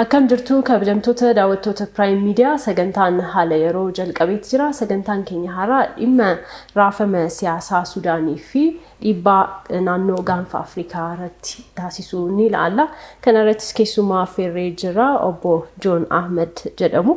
Akkam jirtu kabajamtoota daawwattoota Prime Media, sagantaan haala yeroo jalqabeeti jira. Sagantaan keenya har'aa dhimma raafama siyaasaa Sudaanii fi dhiibbaa naannoo gaanfa Afrikaa irratti taasisu ni ilaalla. Kana irrattis keessummaa affeerree jirra. Obbo Joon Ahmed jedhamu.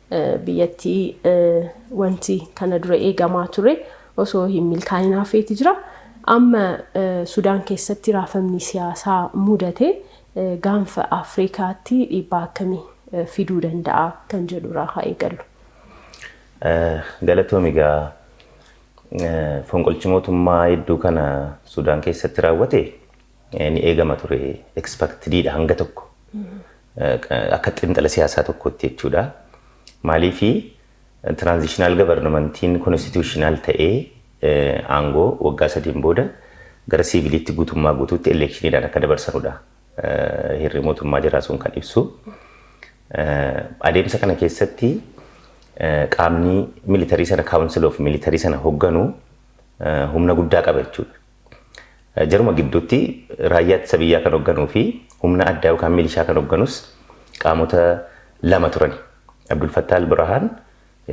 biyyattii wanti kana dura eegamaa ture osoo hin milkaa'in hafeeti jira. Amma Sudaan keessatti raafamni siyaasaa mudate gaanfa Afrikaatti dhiibbaa akkamii fiduu danda'a kan jedhu irraa haa eegallu. Galatoomi gaa fonqolchi mootummaa hedduu kana Sudaan keessatti raawwate ni eegama ture expectedidha hanga tokko akka xinxala siyaasaa tokkotti jechuudha. Maaliif tiraanzishinaal gabarnamantiin konstituushinaal ta'ee aangoo waggaa sadiin booda gara siiviliitti guutummaa guutuutti eleekshiniidhaan akka dabarsanudha. Hirri mootummaa jiraa sun kan ibsu. Adeemsa kana keessatti qaamni militarii sana kaawunsil of militarii sana hogganu humna guddaa qaba jechuudha. Jaruma gidduutti raayyaa ittisa biyyaa kan hogganuu fi humna addaa yookaan milishaa kan hogganus qaamota lama turan. Abdulfattaa Albirahaan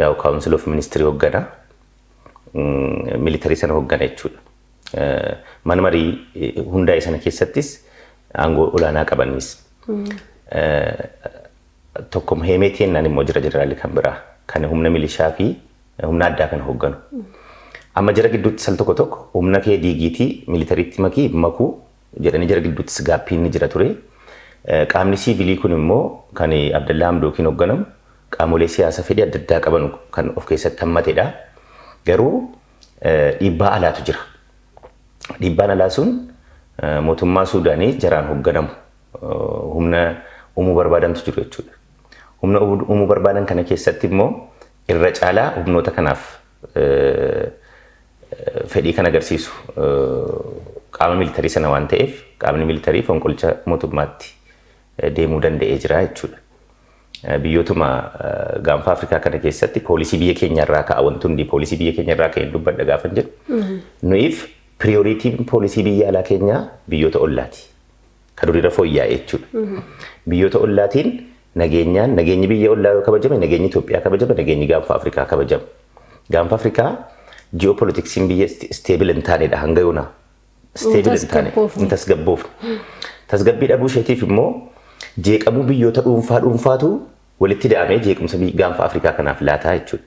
yaa'u kaawunsil of ministirii hoggana militarii sana hoggana jechuudha. Mana marii hundaa'e sana keessattis aangoo olaanaa qabanis. Tokko Heemeetii jennaan immoo jira jeneraalli kan biraa kan humna milishaa fi humna addaa kana hoogganu. Amma jara gidduutti sal tokko tokko humna kee diigiitii militariitti makii makuu jedhanii jara gidduuttis gaappiin ni jira ture. Qaamni siivilii kun immoo kan Abdallaa Hamdookiin hoogganamu qaamolee siyaasa fedhii adda addaa qaban kan of keessatti hammatedha. Garuu dhiibbaa alaatu jira. Dhiibbaan alaa sun mootummaa Suudaanii jaraan hoogganamu humna uumuu barbaadantu jiru jechuudha. Humna uumuu barbaadan kana keessatti immoo Irra caalaa humnoota kanaaf fedhii kan agarsiisu qaama miilitarii sana waan ta'eef qaamni miilitarii fonqolcha mootummaatti deemuu danda'ee jira jechuudha. Biyyootuma gaanfa Afrikaa kana keessatti poolisii biyya keenya irraa ka'a wanti hundi poolisii biyya keenya irraa ka'een dubbadha gaafan jedhu. Nuyiif piriyooriitiin poolisii biyya alaa keenyaa biyyoota ollaati. ka duriirra fooyya'e jechuudha. Biyyoota ollaatiin nageenyaan nageenyi biyya ollaa yoo kabajame nageenyi Itoophiyaa kabajama nageenyi gaanfa Afrikaa kabajama. Gaanfa Afrikaa ji'oopolitiksiin biyya isteebil hin taanedha hanga yoona. Isteebil hin taane tasgabboofne. hin tasgabboofne. Tasgabbii dhabuu isheetiif immoo jeeqamuu biyyoota dhuunfaa dhuunfaatu walitti da'amee jeequmsa biyya- gaanfa Afrikaa kanaaf laataa jechuudha.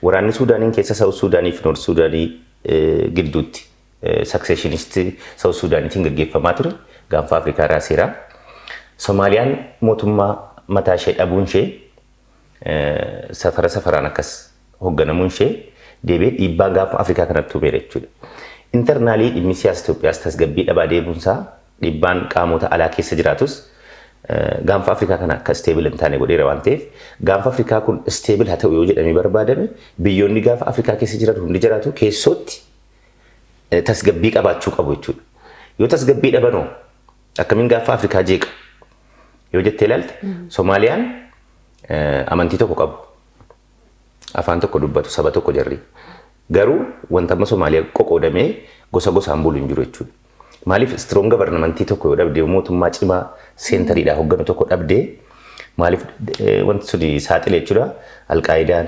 Waraanni Suudaaniin keessa Saawus Suudaanii fi Noort Suudaanii eh, gidduutti successionist South Sudaanitiin gaggeeffamaa ture gaanfa Afrikaa raaseera. Somaaliyaan mootummaa mataa ishee dhabuun ishee safara safaraan akkas hogganamuun ishee deebee dhiibbaa gaanfa Afrikaa kanatti uumeera jechuudha. Internaalii dhimmi siyaasa Itoophiyaas tasgabbii dhabaa deemuun isaa dhiibbaan qaamota alaa keessa jiraatus gaanfa Afrikaa kana akka isteebil hin taane godheera waan ta'eef gaanfa Afrikaa kun isteebil haa ta'u yoo jedhamee barbaadame biyyoonni gaanfa Afrikaa keessa jiran hundi jiraatu keessootti tasgabbii qabaachuu qabu jechuudha. Yoo tasgabbii dhabanoo akkamiin gaaffaa Afrikaa jeeqa yoo jettee ilaalte Somaaliyaan amantii tokko qabu. Afaan tokko dubbatu saba tokko jarri. Garuu wanta amma Somaaliyaa qoqoodamee gosa gosaan bulu hin jiru jechuudha. Maaliif istiroon gabarnamantii tokko yoo dhabde mootummaa cimaa seentariidhaa hogganu tokko dhabde maaliif wanti suni saaxile jechuudha. Alqaayidaan,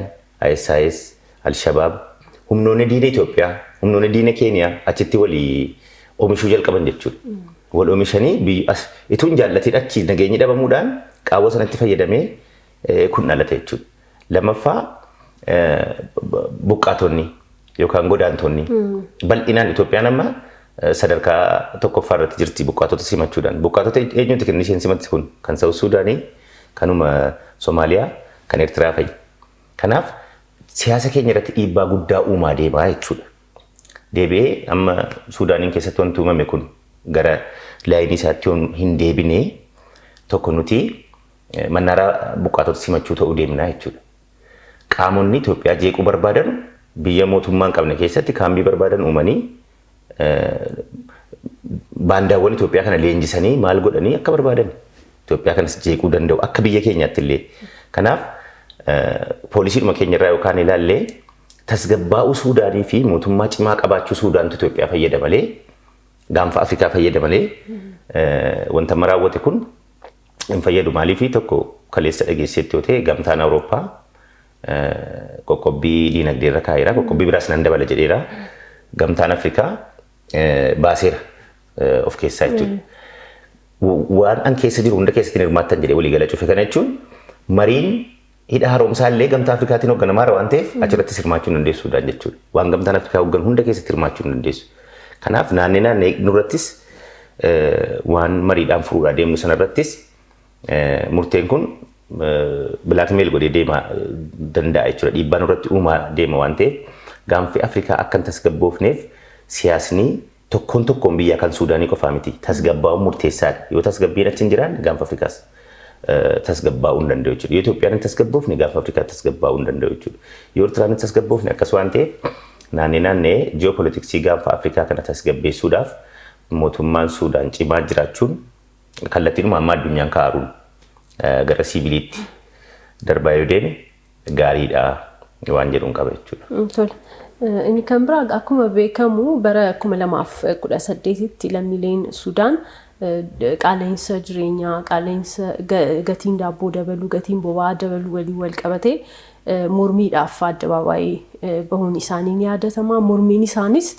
ISIS, Alshabaab, humnoonni diina Itoophiyaa, humnoonni diina Keeniyaa achitti wali omishuu jalqaban jechuudha. Wal omishanii biyyi as ituu hin jaallatiin achi nageenyi dhabamuudhaan qaawwa sanatti fayyadamee eh, kun dhalate jechuudha. Lammaffaa eh, b- buqqaatonni yookaan godaantonni bal'inaan Itoophiyaan amma eh, sadarkaa tokkoffaa irratti jirti buqqaatota simachuudhaan. Buqqaatota eenyuuti kan isheen simatti kun kan Saawus Suudaanii, kanuma Somaaliyaa, kan Eertiraa fa'i. Kanaaf siyaasa keenya irratti dhiibbaa guddaa uumaa deemaa jechuudha. Deebi'ee amma Suudaaniin keessatti wanti uumame kun gara laayinii isaatti yoon hin deebine tokko nuti mannaaraa buqqaatota simachuu ta'uu deemnaa jechuudha. Qaamonni Itoophiyaa jeequu barbaadan biyya mootummaa hin qabne keessatti kaambii barbaadan uumanii baandaawwan Itoophiyaa kana leenjisanii maal godhanii akka barbaadan Itoophiyaa kanas jeequu danda'u akka biyya keenyaatti illee. Kanaaf poolisiidhuma keenya irraa yookaan ilaallee tasgabbaa'uu Suudaanii fi mootummaa cimaa qabaachuu Suudaantu Itoophiyaa fayyada malee gaanfa Afrikaa fayyada malee wanta amma raawwate kun hin fayyadu. Maaliif tokko kaleessa dhageesseetti yoo ta'e gamtaan Awurooppaa qoqqobbii diinagdee irra kaa'eera. Qoqqobbii biraas nan dabala jedheera. Gamtaan Afrikaa baaseera of keessaa jechuudha. Waan an keessa jiru hunda keessatti hin hirmaattan jedhee waliigala cufe kana jechuun mariin hidha haaromsaa illee gamtaa Afrikaatiin hoogganamaa waan ta'eef achirrattis hirmaachuu hin dandeessu Sudaan jechuudha. Waan gamtaan Afrikaa hooggan hunda keessatti hirmaachuu hin dandeessu. Kanaaf naannee naannee nurrattis waan mariidhaan furuudhaa deemnu sanarrattis murteen kun bilaakmeel godhee deema danda'a jechuudha. Dhiibbaa nurratti uumaa deema waan ta'eef gaanfi Afrikaa akka hin tasgabboofneef siyaasni tokkoon tokkoon biyyaa kan Suudaanii qofaa miti. Tasgabbaa'uun murteessaadha. Yoo tasgabbiin achi hin jiraanne gaanfa Afrikaas tasgabbaa'uu hin danda'u jechuudha. Yoo Itoophiyaan hin tasgabboofne gaanfa Afrikaa tasgabbaa'uu hin danda'u jechuudha. Yoo Ertiraan hin tasgabboofne akkas waan ta'eef naannee naannee ji'oopolitiksii gaanfa Afrikaa kana tasgabbeessuudhaaf mootummaan Suudaan cimaa jiraachuun Kallattiidhuma amma addunyaan kaaruun gara siiviliitti darbaa yoo deeme gaariidha waan jedhuun qaba jechuudha. Tole. Inni kan biraa akkuma beekamu bara 2018tti lammiileen Sudaan qaala'insa jireenyaa, qaala'insa gatiin daabboo dabaluu, gatiin boba'aa dabaluu waliin wal qabatee mormiidhaaf addabaabaayii bahuun isaanii ni yaadatama. Mormiin isaanis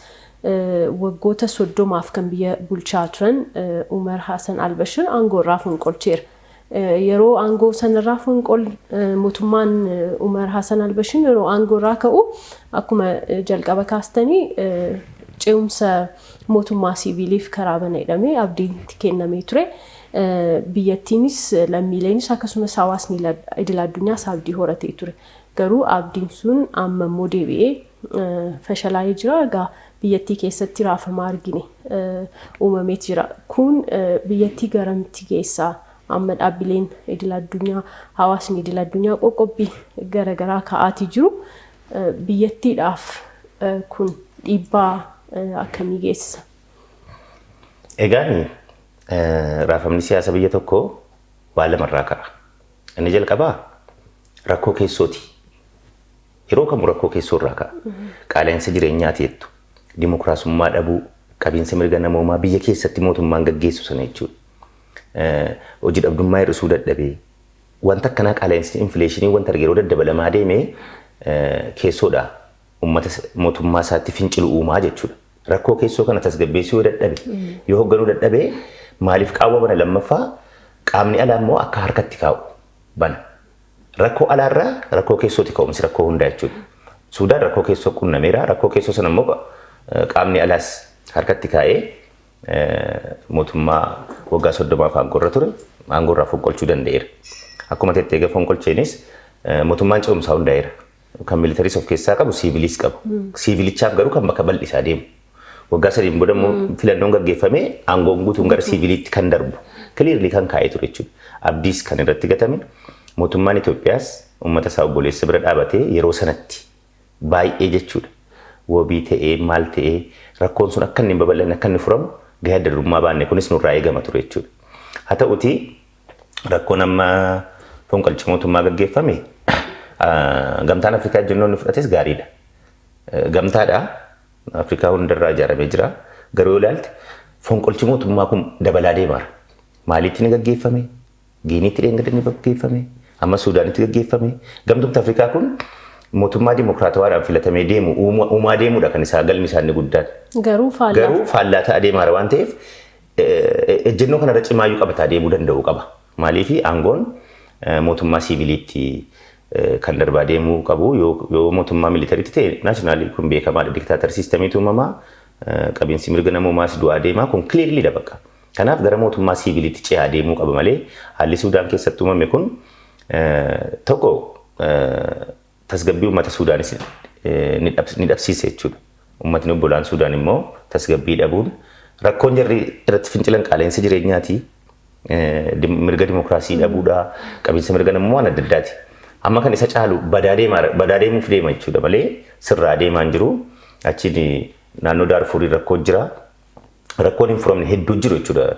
Waggoota 30f kan biyya bulchaa turan Umar Hasan Albashir aangoo irraa fonqolcheera. Yeroo aangoo sanarraa fonqol mootummaan Umar Hasan Albashir yeroo aangoo irraa ka'u akkuma jalqaba kaastanii ce'umsa mootummaa siiviiliif karaa bana jedhamee abdiin itti kennamee ture. Biyyattiinis lammiileenis akkasumas hawaasni idil addunyaas abdii horatee ture. Garuu abdiin sun amma immoo deebi'ee fashalaa'ee jira. Egaa biyyattii keessatti raafama argine uumameet jira. Kun biyyattii garamitti geessa? Amma dhaabbileen idil addunyaa, hawaasni idil addunyaa qoqqobbii garaagaraa ka'aatii jiru. Biyyattiidhaaf kun dhiibbaa akkamii geessisa? Egaan raafamni siyaasa biyya tokko waa lamarraa ka'a. Inni jalqabaa rakkoo keessooti. Yeroo kamuu rakkoo keessoo irraa ka'a. Qaala'insa jireenyaati jettu. Dimokiraasummaa dhabuu, qabiinsa mirga namoomaa biyya keessatti mootummaan gaggeessu sana jechuudha. Eh, Hojii dhabdummaa hir'isuu dadhabee. Wanta akkanaa qaala'insi infileeshinii wanta arge yeroo daddabalamaa deeme eh, keessoodha. Uummata s- mootummaa isaatti fincilu uumaa jechuudha. Rakkoo keessoo kana tasgabbeessuu yoo dadhabe, yoo hoogganuu dadhabe maaliif qaawwa bana lammaffaa qaamni alaa immoo akka harkatti kaa'u bana. Rakkoo alaarraa rakkoo keessooti ka'umsi rakkoo hundaa jechuudha. Suudaan rakkoo keessoo qunnameera. Rakkoo keessoo sana immoo qaamni alaas harkatti kaa'ee mootummaa waggaa soddomaaf aangoorra ture aangoorraa fonqolchuu danda'eera. Akkuma tettee egaa fonqolcheenis mootummaan ce'umsaa hundaa'eera. Kan militaris of keessaa qabu siivilis qabu. Siivilichaaf garuu kan bakka bal'isaa deemu. Waggaa sadiin booda immoo filannoon gaggeeffamee aangoon guutuun gara siiviliitti kan darbu. Kiliirli kan kaa'ee ture jechuudha. Abdiis kan irratti gatame mootummaan Itoophiyaas uummata isaa obboleessa bira dhaabatee yeroo sanatti baay'ee jechuudha. Wabii ta'ee maal ta'ee rakkoon sun akka inni hin babal'anne akka inni furamu gahee adda durummaa baanne kunis nurraa eegama ture jechuudha. Haa ta'uutii rakkoon amma fonqolcha mootummaa gaggeeffame ah, gamtaan Afrikaa ejjennoo inni fudhates gaariidha. Eh, Gamtaadha. Afrikaa hundarraa ijaaramee jira. Garuu yoo ilaalte fonqolchi mootummaa kun dabalaa deemaara. Maaliitti ni gaggeeffame? Giiniitti dheengadda ni gaggeeffame? Amma Suudaanitti gaggeeffame? Gamtoomti Afrikaa kun mootummaa dimokiraatawaadhaan filatamee deemu uuma- uumaa deemuudha kan isaa galmi isaanii guddaan. Garuu faallaa. Garuu faallaa ta'aa deemaara waan ta'eef Ejjennoo kanarra cimaayyuu qabataa deemuu danda'uu qaba. Maaliif aangoon mootummaa siiviliitti kan darbaa deemuu qabu yoo mootummaa militariitti ta'e naashinaali kun beekamaadha diktaatar siistamiitu uumamaa qabinsi mirga namoomaas du'aa deemaa kun kiliirliidha bakka. Kanaaf gara mootummaa siiviliitti ce'aa deemuu qaba malee haalli Suudaan keessatti uumame kun tokko tasgabbii uummata Suudaanis ni dhabsiise jechuudha. Uummatni obbolaan Suudaan immoo tasgabbii dhabuun rakkoon jarri irratti fincilan qaala'insa jireenyaati. Mirga dimokiraasii dhabuudha. Qabiinsa mirga namummaan adda addaati. Amma kan isa caalu badaa deemuuf deema jechuudha malee sirraa deemaa hin jiru. Achiin naannoo Daarfuurii rakkoo jira. Rakkoon hin furamne hedduu jiru jechuudha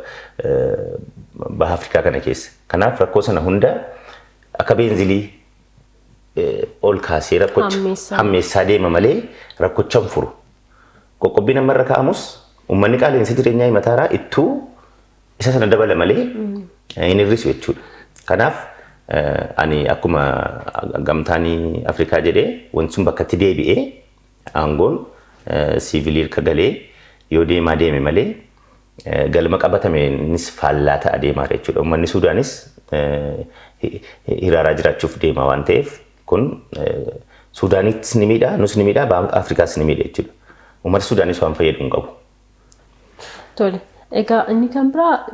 baha Afrikaa kana keessa. Kanaaf rakkoo sana hunda akka beenzilii ol kaasee rakkocha hammeessaa deema malee rakkocha hin furu. Qoqqobbiin amma irra kaa'amus uummanni qaala'insa jireenyaa himataaraa ittuu isa sana dabala malee hin hir'isu jechuudha. Kanaaf ani akkuma gamtaan Afrikaa jedhee wanti sun bakkatti deebi'ee Aangoon siivilii rka galee yoo deemaa deeme malee galma qabatameenis faallaa ta'a deemaara jechuudha. Ummanni Suudaanis hiraaraa jiraachuuf deemaa waan ta'eef kun Suudaanitis ni miidha, nus ni miidha, Baanka Afrikaas ni miidha jechuudha. Ummata Suudaanis waan fayyadu hin qabu. Tole. Egaa inni kan biraa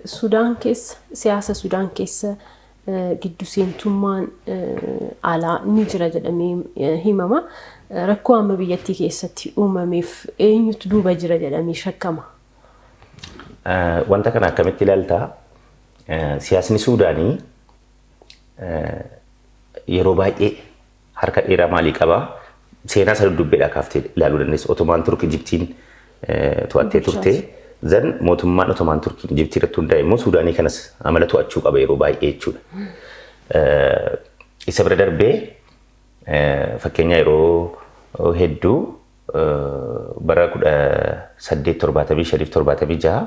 Sudaan keessa siyaasa Sudaan keessa giddu seentummaan alaa ni jira jedhamee himama. Rakkoo amma biyyattii keessatti uumameef eenyutu duuba jira jedhamee shakkama? Wanta kana akkamitti ilaalta? Siyaasni Suudaanii yeroo baay'ee Harka dheeraa maalii qaba? Seenaa isa dudduubbeedhaa kaaftee ilaaluu dandeessa. Otomaan Turk Ijiptiin to'attee turte. Zan mootummaan Otomaan Turkiin Ijiptii irratti hundaa'e immoo Suudaanii kanas amala to'achuu qaba yeroo baay'ee jechuudha. Isa bira darbee fakkeenyaa yeroo hedduu bara 1875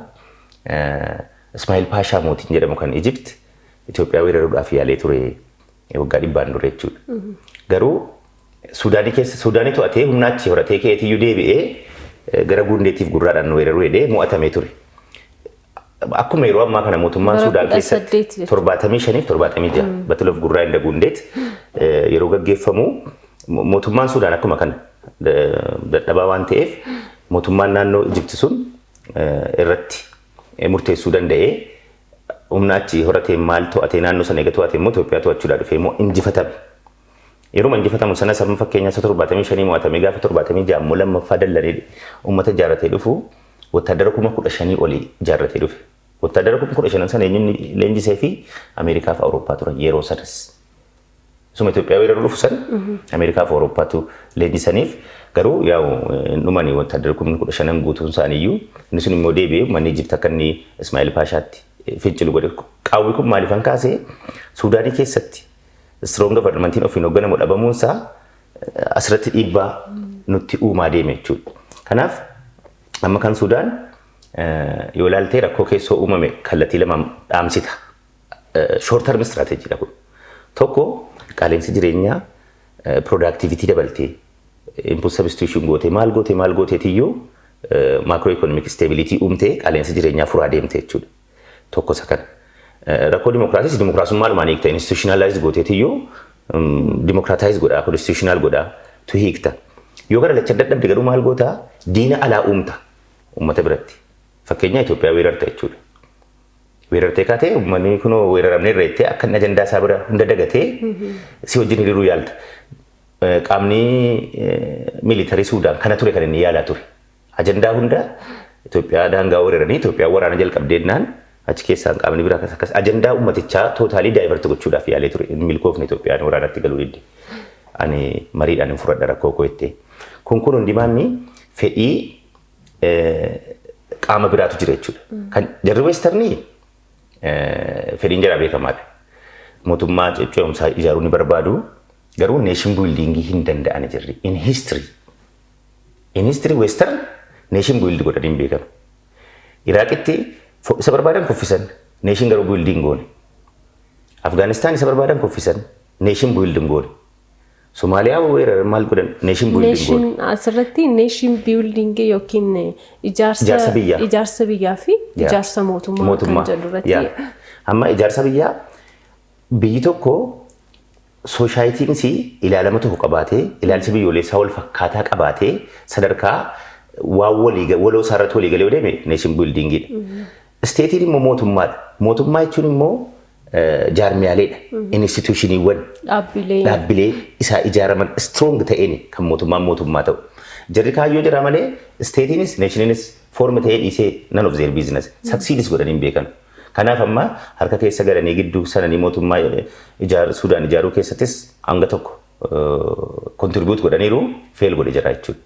Ismaa'il Paashaa mootiin jedhamu kan Ijipt Itoophiyaa weeraruudhaaf yaalee ture. Waggaa dhibbaan dura jechuudha. Garuu Suudaanii keessa Suudaanii to'atee humna achi horatee keetiyyuu deebi'ee eh, gara Guundeetiif gurraadhaan nu weeraruu jedhee mo'atamee ture. Akkuma yeroo ammaa kana mootummaan Bara Suudaan kudha keessatti saddeet jechuudha. torbaatamii shaniif torbaatamii ja'a Battle of Gurraa inda Guundeet eh, yeroo gaggeeffamu mo- mootummaan Suudaan akkuma kana da- dadhabaa waan ta'eef mootummaan naannoo Ijipti sun eh, irratti eh, murteessuu danda'ee humna achi horatee maal to'atee naannoo sana eega to'atee immoo Itoophiyaa to'achuudhaa dhufee immoo injifatame. Yeruma injifatamu sanas amma fakkeenyaaf isa 75 mo'atamee gaafa 76 immoo lammaffaa dallanee uummata ijaarratee dhufu wottaaddara kuma 15 olii ijaarratee dhufe. Wottaaddara kuma 15 sana eenyuun leenjisee fi Ameerikaa fi Awurooppaa turan yeroo sanas. Isuma Itoophiyaa weeraruu dhufu san Ameerikaa fi Awurooppaatu leenjisaniif garuu yaa'u hin dhumani wotaaddarri kumni kudha shanan guutuun isaaniiyyuu inni sun immoo deebi'ee uummanni Ijipti akka inni Ismaa'eel Paashaatti fincilu godhe. Qaawwi kun maaliif kan kaase Suudaanii keessatti strong governmentiin ofiin hoogganamu dhabamuun isaa asirratti dhiibbaa nutti uumaa deeme jechuudha. Kanaaf amma kan Suudaan yoo ilaaltee rakkoo keessoo uumame kallattii lamaan dhaamsita. Short term strategy dha kun. Tokko qaaleensi jireenyaa productivity dabaltee input substitution gootee maal gootee maal gooteetiyyuu macro economic stability uumtee qaaleensi jireenyaa furaa deemte jechuudha. Tokko isa kana. Rakkoo dimokiraasiis dimokiraasummaa dhumaan hiikta institutionalize gooteetiyyuu dimokiraataayiz godhaa constitutional godhaa tu hiikta. Yoo gara lacha dadhabde garuu maal goota diina alaa uumta uummata biratti. Fakkeenyaa Itoophiyaa weerarta jechuudha. Weerartee kaatee uummanni kunoo weeraramne irra jettee akka inni ajandaa isaa bira hunda dagatee si wajjin hiriiruu yaalta. Eh, Qaamni eh, miilitarii Suudaan kana ture kan inni yaalaa ture. Ajandaa hunda Itoophiyaa daangaa weeraranii Itoophiyaan waraana jalqabdeennaan achi keessaan qaamni biraa akkas akkas ajandaa uummatichaa tootaalii daayivarti gochuudhaaf yaalee ture. Hin milkoofne Itoophiyaan waraanatti galuu didde. Ani mariidhaan hin furadha rakkoo koo jettee. Kun kun hundimaanni fedhii qaama biraatu jira jechuudha. Kan jarri weestarnii fedhiin jara beekamaadha. Mootummaa ce'umsaa ijaaruu ni barbaadu. Garuu neeshin buildiingii hin danda'an jirri. In history. In history weestarn neeshin buildi godhanii hin beekan. Iraaqitti isa barbaadan kuffisan neeshin garuu buildiin goone. Afgaanistaan isa barbaadan kuffisan neeshin buildiin goone. Somaaliyaa moo weeraran maal godhan? Nation building Nation goone. asirratti nation building yookiin Ijaarsa ijaarsa biyyaa. ijaarsa biyyaa fi Yaa. ijaarsa mootummaa Mootummaa. kan jedhu irratti Yaa. Amma ijaarsa biyyaa biyyi tokko soosaayitiin isii ilaalama tokko qabaatee ilaalcha biyyoolessaa wal fakkaataa qabaatee sadarkaa waan walii ga- waloo isaarratti walii galee yoo deeme nation buildingidha. Isteetiin immoo mootummaadha. Mootummaa jechuun immoo jaarmiyaaleedha. Inistituushiniiwwan Dhaabbilee. dhaabbilee isaa ijaaraman strong ta'een kan mootummaan mootummaa ta'u. Jarri kaayyoo jira malee isteetiinis neeshiniinis foormi ta'ee dhiisee nan of zeer biizines saksiidis godhanii hin beekan. Kanaaf amma harka keessa galanii gidduu sananii mootummaa ijaar Suudaan ijaaruu keessattis hanga tokko kontiribiyuut godhaniiru feel godhe jira jechuudha.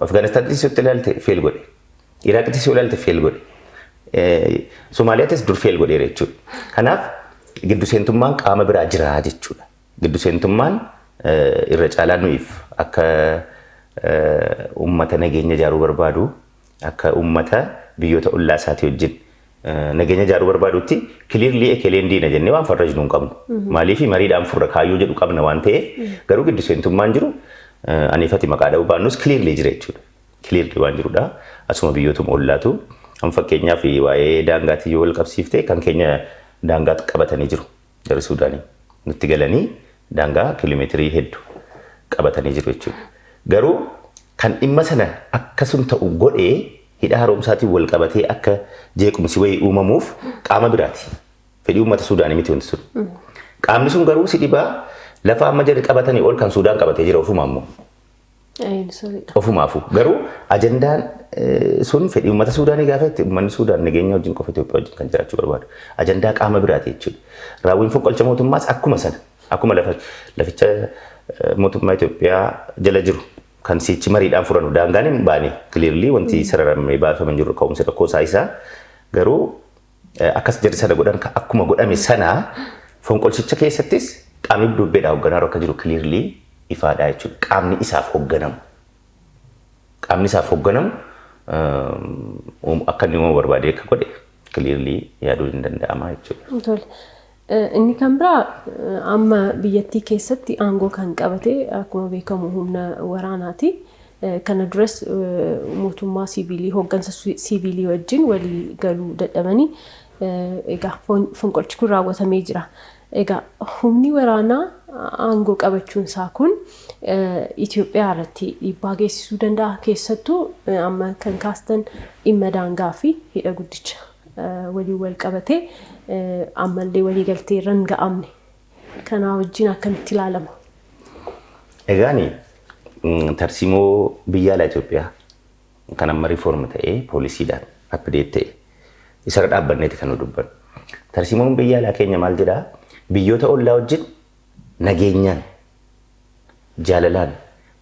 Afgaanistaanittis yoo ilaalte feel godhe. Iraaqittis yoo ilaalte feel godhe. Somaaliyaattis dur feel godheera jechuudha. Kanaaf giddu seentummaan qaama biraa jira jechuudha. Giddu seentummaan irra caalaa nuyiif akka uummata nageenya ijaaruu barbaadu akka uummata biyyoota ollaa isaatii wajjin nageenya ijaaruu barbaadutti kiliirlii ekeleen diina jennee waan farrajnu hin qabnu. Maaliif mariidhaan furra kaayyoo jedhu qabna waan ta'eef garuu giddu seentummaan jiru aniifati maqaa dha'uu baannus kiliirlii jira jechuudha. cleared waan jirudha. Asuma biyyootuma ollaatu. Amma fakkeenyaaf waa'ee daangaatiin yoo wal qabsiifte kan keenya daangaa qabatanii jiru. Jarri Suudaanii nutti galanii daangaa kiiloomeetirii heddu qabatanii jiru jechuudha. Garuu kan dhimma sana akka sun ta'u godhe hidha haaromsaatiin wal qabatee akka jeequmsi wayii uumamuuf qaama biraati. Fedhii uummata Suudaanii miti wanti sun. Qaamni sun garuu si dhibaa lafa amma jarri qabatanii ol kan Suudaan qabatee jira ofuma ammoo. Ayin sirriidha. Ofumaafuu garuu ajandaan eh, sun fedhii uummata Suudaanii gaafa itti uummanni Suudaan nageenya wajjin qofa Itoophiyaa wajjin kan jiraachuu barbaadu. Ajandaa qaama biraati jechuudha. Raawwiin fonqolcha mootummaas akkuma sana akkuma lafa laficha eh, mootummaa Itoophiyaa jala jiru kan siichi mariidhaan furanu daangaan hin baane kiliirlii wanti sararamee baafaman jiru ka'umsi rakkoo isaa isaa garuu Akkas jarri sana godhan ka- akkuma godhame sana fonqolchicha keessattis qaamni dudubbeedhaa hogganaaru akka jiru clearly ifaadhaa jechuudha. Qaamni isaaf hogganamu. Qaamni isaaf hogganamu um, um, akka inni uumamu barbaadee akka godhe clearly yaaduun hin danda'ama jechuudha. Tole. Inni kan biraa amma biyyattii keessatti aangoo kan qabate akkuma beekamu humna waraanaati. Kana duras mootummaa siiviilii hooggansa siiviilii wajjin walii galuu dadhabanii egaa fonqolchi kun raawwatamee jira. Egaa humni waraanaa aangoo qabachuun isaa kun Itoophiyaa irratti dhiibbaa geessisuu danda'a keessattuu amma kan kaastan dhimma daangaa fi hidha guddicha. waliin walqabatee ammallee waliigaltee irra hin ga'amne. Kanaa wajjin akkamitti ilaalama? Egaani tarsiimoo biyya alaa Itoophiyaa kan amma riifoorm ta'ee poolisiidhaan appideet ta'e isarra dhaabbanneeti kan nu dubbannu. Tarsiimoon biyya alaa keenya maal jedhaa? Biyyoota ollaa wajjin nageenyaan, jaalalaan,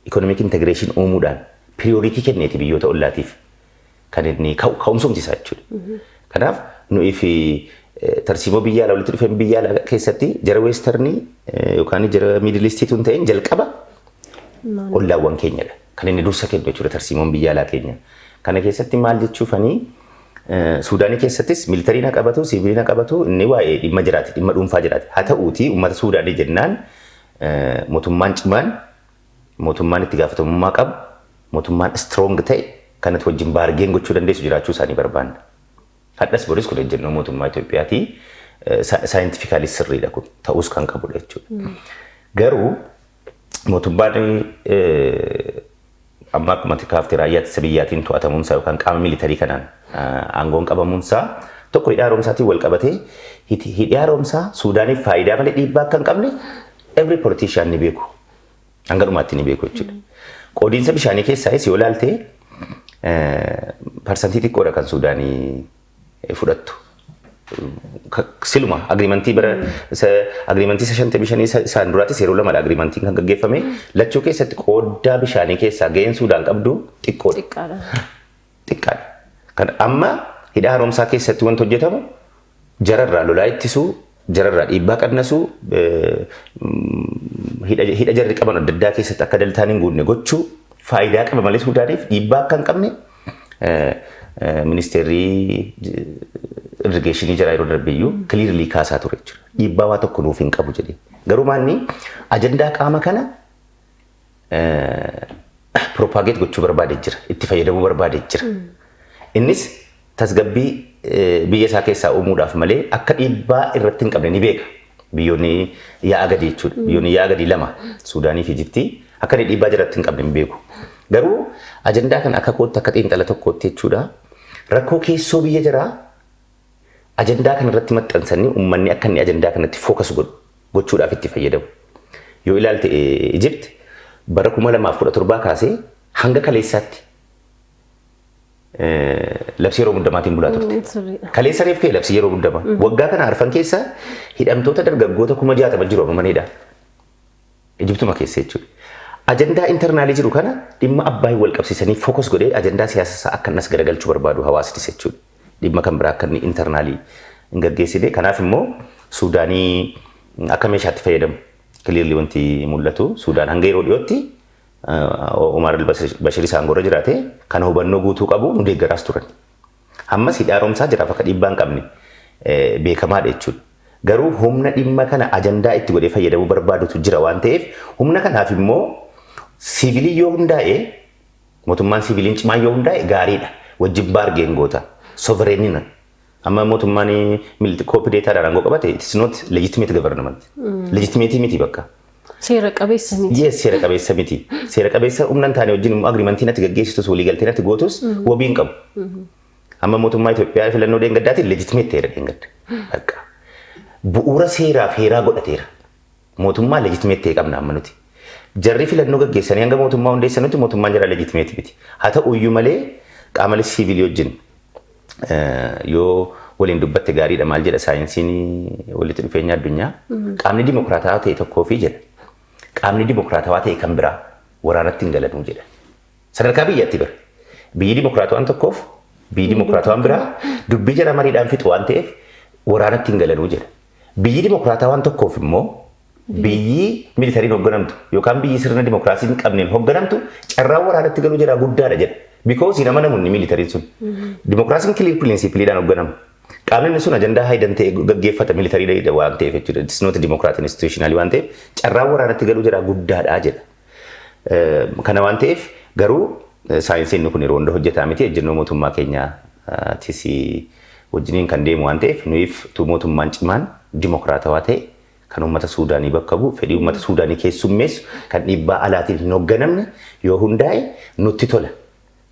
ikonomik integreeshin uumuudhaan piriyooriitii kenneeti biyyoota ollaatiif. kan inni ka'u ka'umsumti isaa jechuudha. Kanaaf nuyi fi tarsiimoo biyya alaa walitti dhufeen biyya alaa keessatti jara weestarnii yookaan jara miidilistii tun ta'een jalqaba ollaawwan keenyadha. Kan inni dursa kennu jechuudha tarsiimoon biyya alaa keenya. Kana keessatti maal jechuufanii Suudaanii keessattis miilitarii na qabatu, siivilii na qabatu, inni waa'ee dhimma jiraati, dhimma dhuunfaa jiraati. Haa ta'uutii uummata Suudaanii jennaan mootummaan cimaan Mootummaan itti gaafatamummaa qabu, mootummaan strong ta'e, kan ati wajjin bargain gochuu dandeessu jiraachuu isaanii barbaanna. Hadhas boris kun ejjennoo mootummaa Itoophiyaati. Scientifically sirriidha kun. Ta'uus kan qabudha jechuudha. Garuu mootummaan amma akkuma ati kaafte raayyaa ittisa biyyaatiin to'atamuunsaa yookaan qaama militarii kanaan aangoon qabamuunsaa tokko hidha haaromsaatiin wal qabatee hidhi haaromsaa Suudaaniif faayidaa malee dhiibbaa akka hin qabne every politician ni beeku. Hanga dhumaatti ni beeku jechuudha. Qoodiinsa bishaanii keessaayis yoo ilaalte parsantii xiqqoodha kan Suudaanii fudhattu. Siluma agriimantii bara agriimantii isa shantamii shanii isaan duraattis yeroo lamadha agriimantiin kan gaggeeffame lachuu keessatti qooddaa bishaanii keessaa ga'een Suudaan qabdu xiqqoodha. xiqqaadha. Kan amma hidha haaromsaa keessatti wanti hojjetamu jararraa lolaa ittisuu, jararraa dhiibbaa qannasuu, hidha jarri qaban adda addaa keessatti akka daltaan hin guunne gochuu faayidaa qaba malee Suudaaniif dhiibbaa akka hin qabne ministeerri irrigeeshinii jara yeroo darbeeyyuu kiliirlii kaasaa ture jechuudha. Dhiibbaa waa tokko nuuf hin qabu jedhee. Garuu maanni ajandaa qaama kana propagate gochuu barbaade jira. Itti fayyadamuu barbaade jira. Innis tasgabbii eh, biyya isaa keessaa uumuudhaaf malee akka dhiibbaa irratti hin qabne ni beeka. Biyyoonni yaa'a gadii jechuudha. Biyyoonni yaa'a gadii lama Suudaanii fi Ijiptii akka inni dhiibbaa jiratti hin qabne hin beeku. Garuu ajandaa kana akka kootti akka xiinxala tokkootti jechuudha. Rakkoo keessoo biyya jiraa ajandaa kana irratti maxxansanii ummanni akka inni ajandaa kanatti focus godhu gochuudhaaf itti fayyadamu. Yoo ilaalte Egypt bara 2017 kaasee hanga kaleessaatti labsii yeroo muddamaatiin bulaa turte. Sirriidha. Kaleessa reef kee labsii yeroo muddamaa. Waggaa kana arfan keessa hidhamtoota dargaggoota kuma jaatama jiru amma manidha. Ijibtuma keessa jechuudha. Ajandaa intarnaalii jiru kana dhimma abbaayii wal qabsiisanii fokos godhee ajandaa siyaasa isaa akka innas garagalchuu barbaadu hawaasnis jechuudha. dhimma kan biraa akka inni internaalii hin gaggeessine. Kanaaf immoo Suudaanii akka meeshaatti fayyadamu. Kiliirli wanti mul'atu Suudaan hanga yeroo dhiyootti Umaar al-Bashir isaan gorra jiraate kana hubannoo guutuu qabu nu deeggaraas turan. Ammas hidhaa romsaa jiraaf akka dhiibbaa hin qabne beekamaadha jechuudha. Garuu humna dhimma kana ajandaa itti godhee fayyadamuu barbaadutu jira waan ta'eef humna kanaaf immoo siivilii yoo hundaa'e Mootummaan siiviliin cimaan yoo hundaa'e gaariidha. Wajjin baargeen goota. Sovereign-na. Amma mootummaan mil- koopideetaadhaan aangoo qabate it is not legitimate government. Legitimate miti bakka. Seera qabeessa miti. Yes, seera qabeessa miti. Seera qabeessa humna hin taane wajjin immoo agriimantiin ati gaggeessitus waliigalteen ati gootus wabii hin qabu. Amma mootummaa Itoophiyaa filannoo deengaddaatiin legitimate ta'eera deengadda. Bakka. Bu'uura seeraa fi heeraa godhateera. Mootummaa legitimate ta'e qabna amma nuti. Jarri filannoo gaggeessanii hanga mootummaa hundeessanutti mootummaan jaraa legitimate miti. Haa ta'uyyuu malee qaamale siivilii wajjin yoo waliin dubbatte gaariidha maal jedha saayinsiin walitti dhufeenya addunyaa. Qaamni dimokiraatawaa ta'e tokkoo fi jedha. Qaamni dimokiraatawaa ta'e kan biraa waraanatti hin galanuu jedha. Sadarkaa biyyatti bira. Biyyi dimokiraatawaan tokkoof biyyi dimokiraatawaan biraa dubbii jara mariidhaan fixu waan ta'eef waraanatti hin galanuu jedha. Biyyi dimokiraatawaan tokkoof immoo biyyi miilitariin hogganamtu yookaan biyyi sirna dimokiraasii hin qabneen hogganamtu carraan waraanatti galuu jaraa guddaadha jedha. Because hin amanamu inni miilitariin sun. Dimokiraasiin kiliir piriinsiipiliidhaan hogganama. Qaamni inni sun ajandaa haayidan ta'e gaggeeffata miilitariidha waan ta'eef jechuudha. It's not a democratic institutionally waan ta'eef carraan waraanatti galuu jaraa guddaadha jedha. Kana waan ta'eef garuu saayinsii inni kun yeroo hunda hojjetaa miti ejjennoo mootummaa keenyaatis wajjiniin kan deemu waan ta'eef nuyiif utuu mootummaan cimaan dimokiraatawaa ta'e kan uummata Suudaanii bakka bu'u fedhii uummata Suudaanii keessummeessu kan dhiibbaa alaatiin hin hoogganamne yoo hundaa'e nutti tola.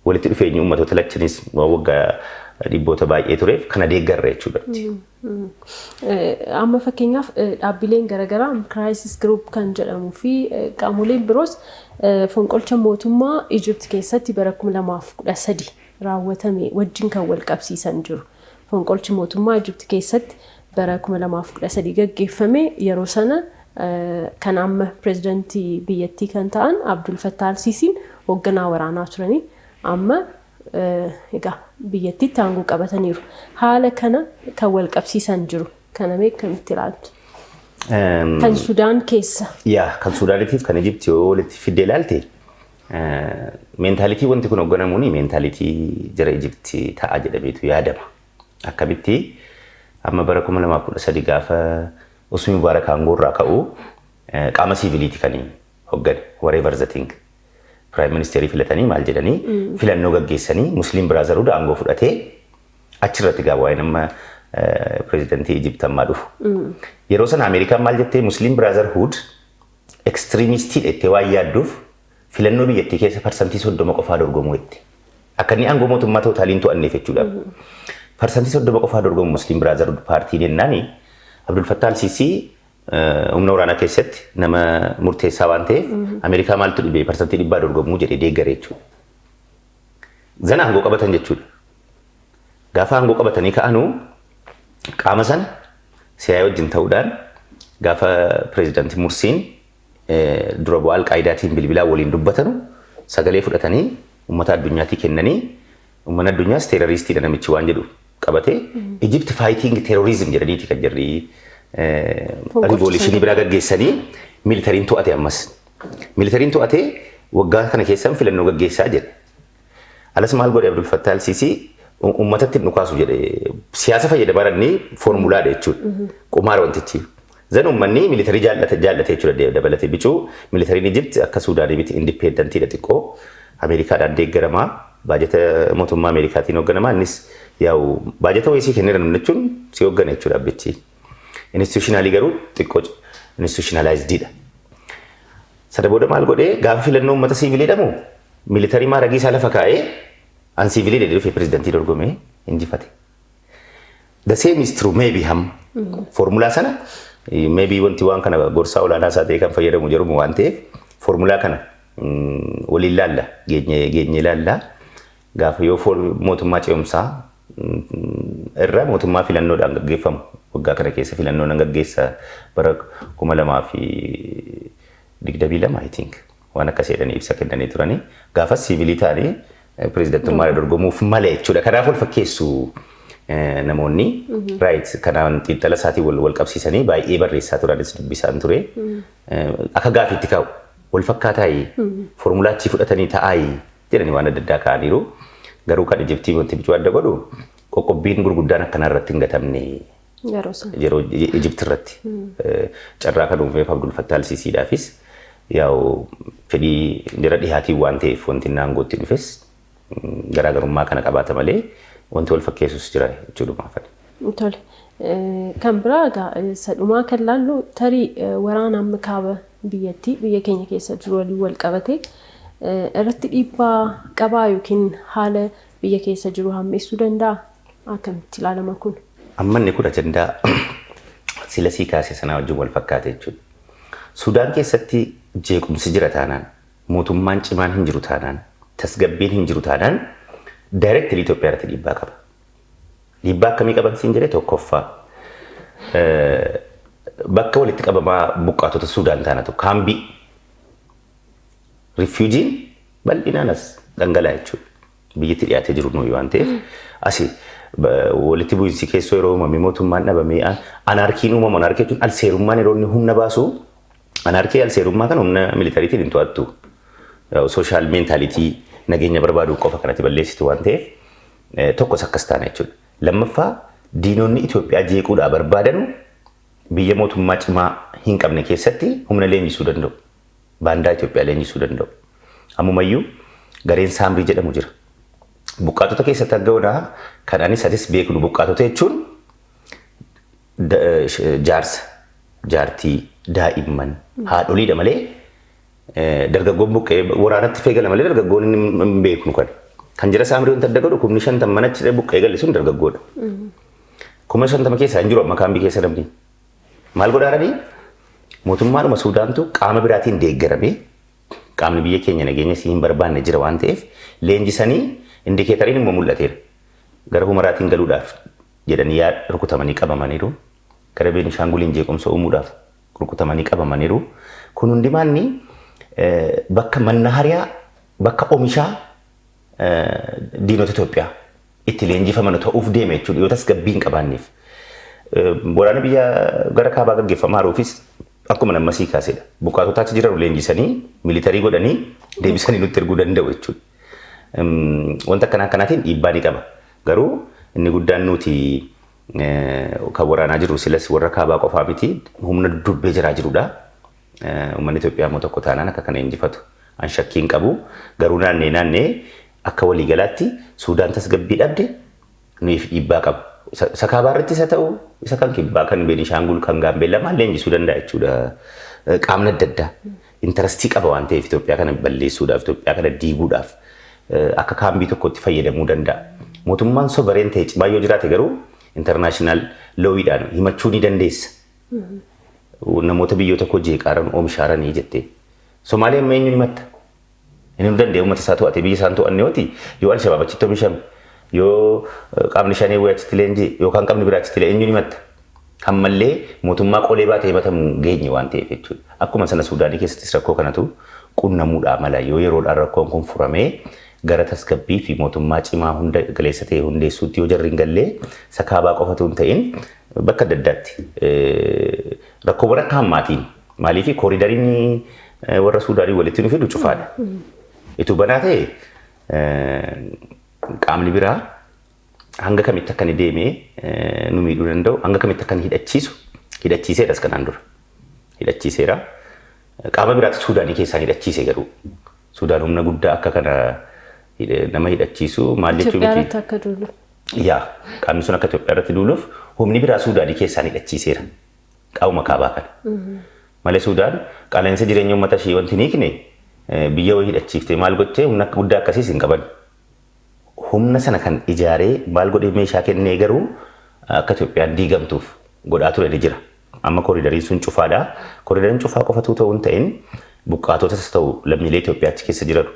Walitti dhufeenyi uummatoota lachaniis wagga dhibboota baay'ee tureef kana deeggarra jechuudhatti. Amma fakkeenyaaf dhaabbileen garaagaraa Crisis Group kan jedhamuu fi qaamoleen biroos fonqolcha mootummaa Egypt keessatti bara 2013 raawwatame wajjin kan wal qabsiisan jiru. Fonqolchi mootummaa Egypt keessatti bara 2013 gaggeeffame yeroo sana kan amma pirezidantii biyyattii kan ta'an Abdul Fattah al-Siisiin hoogganaa waraanaa turanii amma egaa biyyattiitti aangoo qabataniiru. Haala kana kan wal qabsiisan jiru. Kana mee akkamitti ilaaltu? Kan Sudaan keessa. Yaa kan Sudaanitiif kan Ijipti yoo walitti fidde ilaalte meentaalitii wanti kun hoogganamuun meentaalitii jara Ijipti ta'a jedhameetu yaadama. Akkamitti? Amma bara 2013 gaafa Usmi Mubaarak aangoorraa ka'u qaama siiviliiti kan hoggane whatever the thing. Piraayim ministeerii filatanii maal jedhanii filannoo gaggeessanii Musliim Biraazarhuud aangoo fudhatee achirratti gaa waa'een amma pireezidantii Ijipti ammaa dhufu. Yeroo sana Ameerikaan maal jettee Musliim Biraazarhuud ekstiriimistiidha jettee waan yaadduuf Filannoo biyyattii keessa parsantii soddoma qofaa dorgomuu jette. Akka inni aangoo mootummaa tootaalii hin to'anneef jechuudhaaf. Parsantii soddoma qofaa dorgomu Musliim Biraazarhud paartiin jennaani Abdul Fattah al-Siisii eh, humna waraanaa keessatti nama murteessaa waan ta'eef Ameerikaa maaltu dhibee parsantii dhibbaa dorgomuu jedhee deeggare jechuudha. Zana aangoo qabatan jechuudha. Gaafa aangoo qabatanii ka'anu qaama sana siyaa wajjin ta'uudhaan gaafa pireezidaantii Mursiin dura bu'aa Alqaayidaatiin bilbilaan waliin dubbatanu sagalee fudhatanii uummata addunyaatii kennanii uummanni addunyaas teeroriistiidha namichi waan jedhu qabatee Egypt fighting terrorism jedhaniiti kan jirri riivoolishinii biraa gaggeessanii miilitariin to'ate ammas. Miilitariin to'atee waggaa kana keessan filannoo gaggeessaa jedhe. Alas maal godhe Abdul Fattah al-Sisi ummatatti hin dhukaasu jedhe. Siyaasa fayyada baranni foormulaadha jechuudha. Qumaara wantichi. Zan ummanni militarii jaallate jaallate jechuudha dabalate bicuu militariin Ijipti akka Suudaanii miti indipeendantidha xiqqoo Ameerikaadhaan deeggaramaa baajata mootummaa Ameerikaatiin hoogganamaa innis yaa'u baajata wayisii kenneera namni jechuun si hooggana jechuudha abbichi. Institutionalii garuu xiqqoo institutionalized dha. Sana booda maal godhee gaafa filannoo uummata siivilii dhamu militarii maaragii isaa lafa kaa'ee an siivilii dha dhufe pirezidantii dorgomee injifate. The same is true maybe ham foormulaa sana eh, maybe wanti waan kana gorsaa olaanaa isaa ta'ee kan fayyadamu jedhamu waan ta'eef foormulaa kana mm, waliin laalla geenye geenye laalla Gaafa yoo fool mootummaa ce'umsaa irra mootummaa filannoodhaan gaggeeffamu waggaa kana keessa filannoo nan gaggeessa bara 2022 I think waan akkas jedhanii ibsa kennanii turanii gaafas siivilii ta'anii pirezidantummaa irra dorgomuuf mala jechuudha. Kanaaf wal fakkeessu namoonni raayit kanaan xiinxala isaatiin wal wal qabsiisanii baay'ee barreessaa turanis dubbisaan ture. Akka gaafiitti kaa'u wal fakkaataa foormulaa achii fudhatanii ta'aa jedhanii waan adda addaa kaa'aniiru. Garuu kan Ijiptii wanti bicuu adda godhu qoqqobbiin gurguddaan akkanaa irratti hin gatamne Yeroo sana. yeroo Ijipti irratti eh, carraa kan uumeef Abdul Fattah al-Siisiidhaafis yaa'u fedhii jara dhihaatiin waan ta'eef wanti inni aangootti dhufes mm, garaagarummaa kana qabaata malee wanti wal fakkeessus jira jechuudha maafani. Tole. Kan biraa egaa isa dhumaa kan laallu tarii waraana amma kaaba biyyattii biyya keenya keessa jiru waliin wal qabate irratti dhiibbaa qabaa yookiin haala biyya keessa jiru hammeessuu danda'a? Akkamitti ilaalama kun? Amma inni kun ajandaa sila sii kaase sanaa wajjin wal fakkaata jechuudha. Sudaan keessatti jeequmsi jira taanaan, mootummaan cimaan hin jiru taanaan, tasgabbiin hin jiru taanaan directly Itoophiyaa irratti dhiibbaa qaba. Dhiibbaa akkamii qaban siin jedhee tokkoffaa bakka walitti qabamaa buqqaatota Suudaan taanatu kaambii rifiujiin bal'inaan as dhangalaa jechuudha. Biyyatti dhiyaatee jiru nuyi waan ta'eef asi walitti bu'iinsi keessoo yeroo uumame mootummaan dhabamee anaarkiin uumamu anaarkii jechuun alseerummaan yeroo inni humna baasu anaarkii alseerummaa kan humna militariitiin hin to'attu. Sooshaal meentaalitii nageenya barbaaduu qofa kanatti balleessitu waan ta'eef Tokkos akkas taana jechuudha. Lammaffaa diinonni Itoophiyaa jeequudhaa barbaadanu biyya mootummaa cimaa hin qabne keessatti humna leenjisuu danda'u. Baandaa Itoophiyaa leenjisuu danda'u. Ammumayyuu gareen saamrii jedhamu jira. Buqqaatota keessatti arga onaa kan anis atis beeknu buqqaatota jechuun jaarsa, jaartii, daa'imman, haadholiidha malee Dargaggoon buqqa'ee waraanatti fee gala malee dargaggoon inni hin beeknu kan. Kan jara saamrii wanta adda godhu kumni shantam mana ciree buqqa'ee gale sun dargaggoodha. Kuma shantama keessaa hin jiru amma kaambii keessa namni. Maal godhaaranii? Mootummaadhuma Suudaantu qaama biraatiin deeggaramee qaamni biyya keenya nageenya si hin barbaanne jira waan ta'eef leenjisanii indikeetariin immoo mul'ateera. Gara humaraatiin galuudhaaf jedhanii yaa rukutamanii qabamaniiru. Gara Beenishaanguliin jeequmsa uumuudhaaf rukutamanii qabamaniru. Kun hundimaanni bakka mannahariyaa, bakka omishaa diinota Itoophiyaa itti leenjifamanu ta'uuf deema jechuudha yoo tasgabbii hin qabaanneef. Waraana biyya gara kaabaa gaggeeffamaa jiruufis akkuma namma sii kaasedha. Buqqaatota achi jiranu leenjisanii, militarii godhanii deebisanii nutti erguu danda'u jechuudha. Wanta akkanaa akkanaatiin dhiibbaa ni qaba. Garuu inni guddaan nuti Kan waraanaa jiru silas warra kaabaa qofaa miti humna dubbee jiraa jirudha. Uummanni Itoophiyaa immoo tokko taanaan akka kana injifatu an shakkii hin qabu. Garuu naannee naannee akka waliigalaatti Suudaan tasgabbii dhabde nuyiif dhiibbaa qaba. Isa kaabaa irratti isa ta'u isa kan kibbaa kan Beenishaangul kan Gaambeellaa maal leenjisuu danda'a jechuudha qaamni adda addaa. Interastii qaba waan ta'eef Itoophiyaa kana balleessuudhaaf, Itoophiyaa kana diiguudhaaf akka kaambii tokkootti fayyadamuu danda'a. Mootummaan sovereen ta'e cimaa yoo jiraate garuu international looyiidhaan himachuu ni dandeessa. Namoota biyyoota koo jeeqaaran oomishaaranii jettee. Somaalee amma eenyuun himatta? Inni nu danda'e uummata isaa to'atee biyya isaan to'anne yooti yoo Alshabaab achitti oomishame yoo qaamni shanee wayii achitti leenji'e yookaan qaamni biraa achitti eenyuun himatta? Ammallee mootummaa qolee baatee himatamu hin geenye waan ta'eef jechuudha. Akkuma sana Suudaanii keessattis rakkoo kanatu qunnamuudhaa mala. Yoo yeroodhaan rakkoon kun furamee gara tasgabbii fi mootummaa cimaa hunda galeessa ta'e hundeessuutti yoo jarri hin gallee isa kaabaa qofa utuu hin ta'in bakka adda addaatti rakkoowwan akka hammaatiin maaliif kooriidariin warra Suudaanii walitti nu fidu cufaadha. Ituu banaa ta'e qaamni biraa hanga kamitti akka inni deemee nu miidhuu danda'u, hanga kamitti akka inni hidhachiisu hidhachiiseeras kanaan dura. Hidhachiiseera. Qaama biraatti Suudaanii keessaan hidhachiise garuu. Suudaan humna guddaa akka kana nama hidhachiisu maal jechuu miti. Itoophiyaarratti akka duulu. Yaa qaamni sun akka Itoophiyaa irratti duuluuf humni biraa Suudaanii keessaan hidhachiiseera. Qaama kaabaa kana. Malee Suudaan qaala'insa jireenya uummata ishee wanti hin hiikne biyya wayii hidhachiiftee maal gottee humna guddaa akkasiis hin qaban. humna sana kan ijaaree maal godhee meeshaa kennee garuu akka Itoophiyaan diigamtuuf godhaa ture ni jira. Amma koriidariin sun cufaadha. Koriidariin cufaa qofatuu ta'uu hin ta'in buqqaatotas ta'u lammiilee Itoophiyaa achi keessa jiran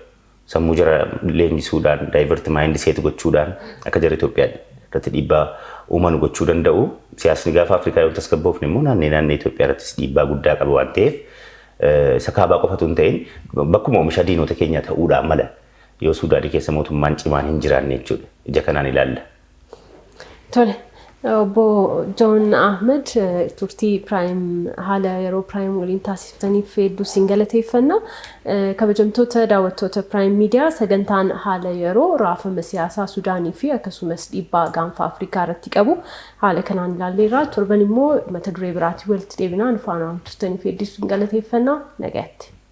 sammuu jara leenjisuudhaan daayivert maayindi seet gochuudhaan akka jara Itoophiyaa irratti dhiibbaa uuman gochuu danda'u. Siyaasni gaafa Afrikaa yoo tasgabboofne immoo naannee naannee Itoophiyaa irrattis dhiibbaa guddaa qaba waan ta'eef isa kaabaa qofatu hin ta'in bakkuma oomishaa diinota keenyaa ta'uudhaan mala. Yoo Suudaanii keessa mootummaan cimaan hin jiraanne jechuudha. Ija kanaan ilaalla. Tole. Obbo Joon Ahmed turtii Piraayim haala yeroo Piraayim waliin taasiftaniif hedduu siin galateeffanna. Kabajamtoota daawwattoota Piraayim Miidiyaa sagantaan haala yeroo raafama siyaasaa Sudaanii fi akkasumas dhiibbaa gaanfa Afrikaa irratti qabu haala kanaan ilaalleerra. Torban immoo mata duree biraatiin walitti deebinaa nu faanaan turtaniif hedduu siin galateeffanna. Nagaatti.